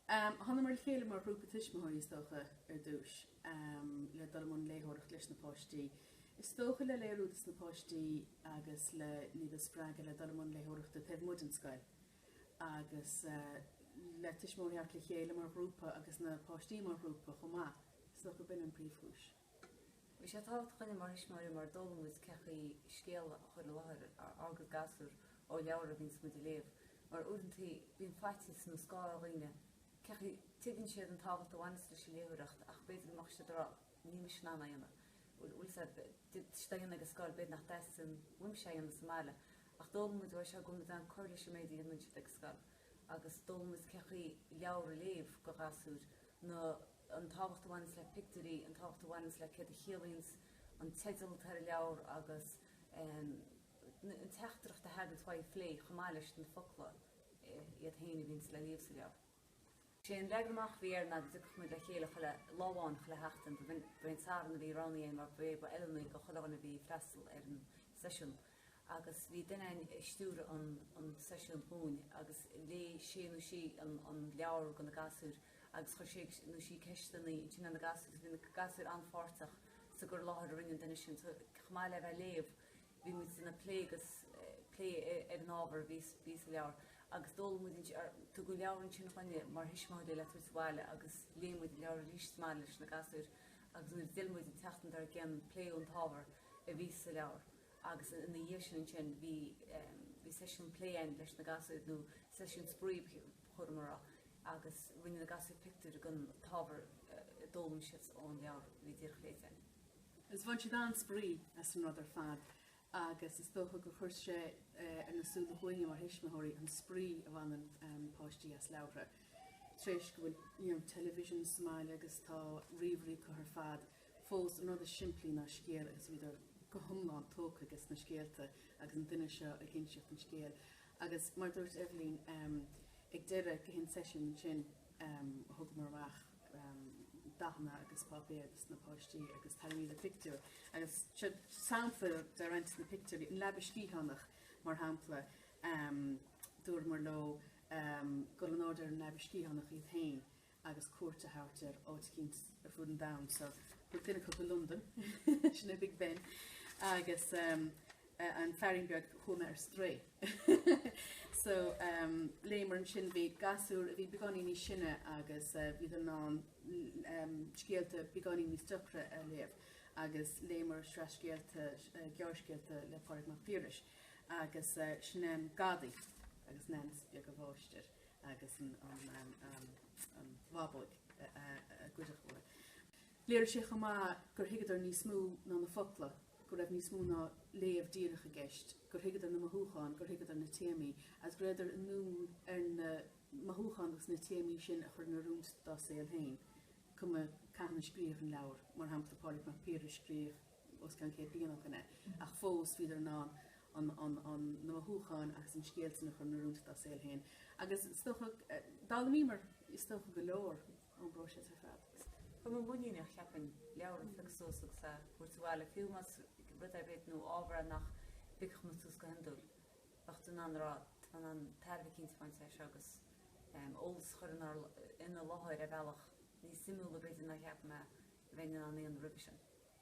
Thángamar le chéile mar ghrúpa tuismitheoirí is dócha ar dtús le dul i mbun léitheoireacht leis na páistí. Is dócha le léiriú dos na páistí agus le hiad a spreagadh le dul i mbun léitheoireachta taobh amuigh den scoil agus le tuismitheoirí a thabhairt le chéile mar ghrúpa agus na páistí mar ghrúpa chomh maith. Is dócha gurb in an príomhchúis. Bhí sé tábhachtach linne mar thuismitheoirí mar d'fhoghlaim muid cé chaoi scéal a chur i láthair ag gasúr ó leabhar a bhíonns muid a léamh mar uaireanta bíonn faitíos nó scáth ar dhaoine cé chaoi, tuigeann siad an tábhacht a bhaineas leis an léitheoireacht ach b'fhéidir go mbeadh siad ag rá níl mise in ann é a dhéanamh, bhuel bhfuil sé á dhéanamh ag an scoil, b'fhéidir nach dteastaíonn uaim é a dhéanamh sa mbaile ach d'fhoghlaim muid uaidh seo go bhfuil muid in ann cur leis an méid a dhéanann siad ag an scoil agus d'fhoghlaim muid cé chaoi leabhar a léamh do ghasúir nó an tábhacht a bhaineanns le pictiúirí, an tábhacht a bhaineanns le céard a chiallaíonns an teideal atá ar an leabhar agus an teachtaireacht a thaganns uaidh a phlé chomh maith leis na focla iad féin a bhíonns le léamh sa leabhar. Sé an leagan amach a bhí air ná go dtiocfadh muid le chéile chuile lá amháin chuile sheachtain, ba é an Satharn a bhí roghnaithe mar ba é ba fheiliúnaí do chuile dhuine a bhí ag freastal ar an seisiún. agus bhí duine ag stiúradh an seisiúin dhúinn agus léigh sé nó sí an leabhar do na gasúir agus chuir sé nó sí ceisteanna ansin ar na gasúir agus bhí na gasúir an-pháirteach sa gcur i láthair a rinne an duine sin. So chomh maith le bheith ag léamh, bhí muid ag plé agus plé ar an ábhar a bhí sa leabhar agus d'fhoghlaim muid ansin, tugadh an leabhar ansin chugainne mar thuismitheoirí le tabhairt abhaile agus léigh muid an leabhar arís chomh maith leis na gasúir agus nuair a d'fhill muid an tseachtain dár gcionn pléadh an t-ábhar a bhí sa leabhar. agus ina dhiaidh sin ansin bhí bhí seisiún plé ann leis na gasúir nó seisiún spraoi cuir i gcás agus rinne na gasúir pictiúir den t-ábhar a d'fhoghlaim siad ón leabhar a bhí díreach léite ann. Is bhain siad an-spraoi as an rud ar fad agus is dócha gur chuir sé ar na súile dhúinne mar thuismitheoirí an spraoi a bhaineann páistí as leabhartha. Tar éis go bhfuil television sa mbaile agus tá ríomhairí acu ar fad fós an rud is simplí ná scéal agus bhíodar go hiomlán tógtha ag na scéalta agus an duine seo ag inseacht an scéil agus mar dúirt Eibhlín ehm ag deireadh gach aon seisiún ansin ehm thugamar amach ehm dathanna agus páipéar dos na páistí agus tharraingídís pictiúr agus seo sampla de roinnt de na pictiúirí an leaba sciathánach mar shampla ehm dúramar leo ehm go rabhadar ar an leaba sciathánach iad féin agus cuairt a thabhairt ar áit eicínt ar fud an domhain so b'fhéidir duine acu i Londain sin é Big Ben agus an fearín beag a chuaigh ar strae so léimear ansin bhí gasúr a bhí beagáinín níos sine agus bhíodar in ann scéalta beagáinín níos deacra a léamh agus léimear sraith scéalta gearrscéalta le Pádraig Mac Piarais agus sin An Gadaí agus Neans beag an mháistir. agus an bhábóg a goideadh uaithi. Léirigh sé chomh maith gur thuigeadar níos mó ná na focla, go raibh níos mó ná léamh díreach i gceist, gur thuigeadar na mothúcháin, gur thuigeadar na téamaí agus go raibheadar inniúil ar na mothúcháin agus na téamaí sin a chur in oiriúint dá saol féin. Cuma cathain a scríobhadh an leabhar, mar shampla Pádraig Mac Piarais scríobhadh. os cionn céad bliain ó shin é, ach fós bhíodar in ann an na mothúcháin agus na scéalta a chur in oiriúint dá saol féin. Agus is dócha, d'fhoghlaimíomar is dócha go leor ón bpróiseas ar fad. Go mbeadh muinín a cheapaim, leabhar a phiocadh suas agus a thabhairt abhaile, fiú más rud ar bith nó ábhar nach bpiocfadh muid suas go hiondúil. Bheadh tú in ann rá, tá in ann tairbhe eicínt a bhaint as seo agus eolas a chur ina láthair ar bhealach níos suimiúla b'fhéidir ná cheap mé a bheinn in ann a dhéanamh roimhe sin.